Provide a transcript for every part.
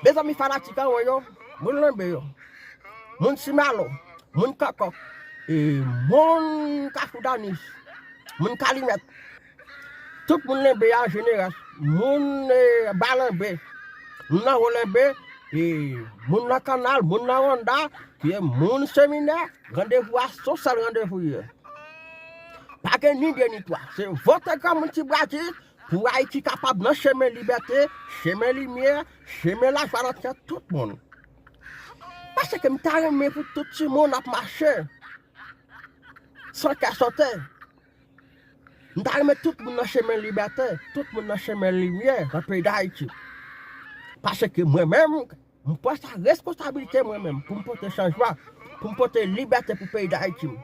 Mezanmi fanatik anwo yo, moun lanbe yo, moun ti malo, moun kòkòk, e moun kafou danis, moun kalimèt, tout moun lenbe an jeneral, moun e ba lanbe, moun nan wo lenbe, e moun nan kanal, moun nan wonda, e moun seminè, randevou a son sèl randevou ye. Pa gen ni de ni twa, se vote granmoun ti bratis, Pou Ayiti kapab nan chemen libète, chemen limyè, chemen lajwa nan kè tout moun. Paske m ta renmen pou tout timoun ap mache san kè sote. M ta renmen tout moun nan chemen libète, tout moun nan chemen limyè nan peyi Dayiti. Paske mwen menm. M pran sa responsabilite mwen menm pou m pote chanjman, pou m pote libète pou peyi Dayiti. M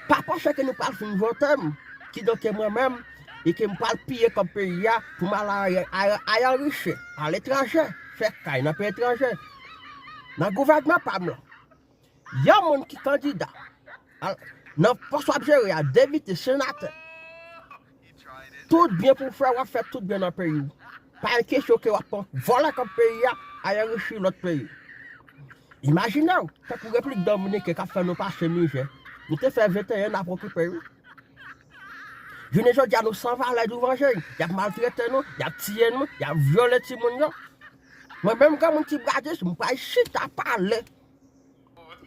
pa panse ke nou pral fin vote m, kidonke mwen menm, e ke m pral piye kòb peyi a pou m al ayan riche, aletranje, fè kay nan peyi etranje, nan gouvènman pa m lan. Yon moun ki kandida nan pòs wap jere a, depite, senatè, tout byen pou fè wap fè tout byen nan peyi w. Pa gen kesyon ke wap pran vòlè kòb peyi a, al anrichi lòt peyi. Imajine w, tankou Repiblik Dominiken kap fè nou pase mizè, nou te fè 21 nap okipe yo. Jounen jodi a nou san valè douvan je yo, yap maltrete nou, yap tiye nou, yap vyole timoun yo. Mwen menm granmoun ti bradis, m pral chita pale.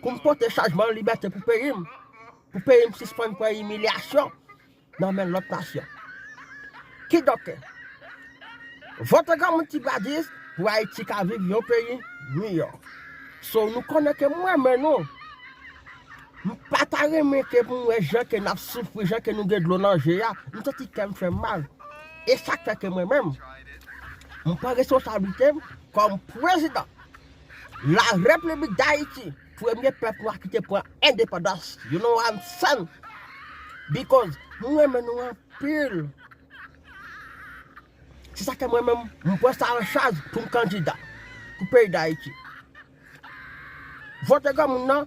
pou m pote chajman libète pou peyi m, pou peyi m sispann pran imilyasyon nan men lòt nasyon. Kidonk, vote granmoun ti Gladys pou Ayiti ka viv yon peyi miyò. So nou konnen ke mwen menm nou, m pa ta renmen ke pou m wè jan ke n ap soufri, jan ke nou gen dlo nan je a, m santi kè m fè m mal. E sa k fè ke mwen menm, m pran responsablite m kòm prezidan. La Repiblik Dayiti, premye pèp nwa ki te pran endepandans, you know what I'm saying? Because m renmen nou anpil. Se sa ke mwen menm m pran sa an chaj pou m kandida pou peyi Dayiti. Vote granmoun nan.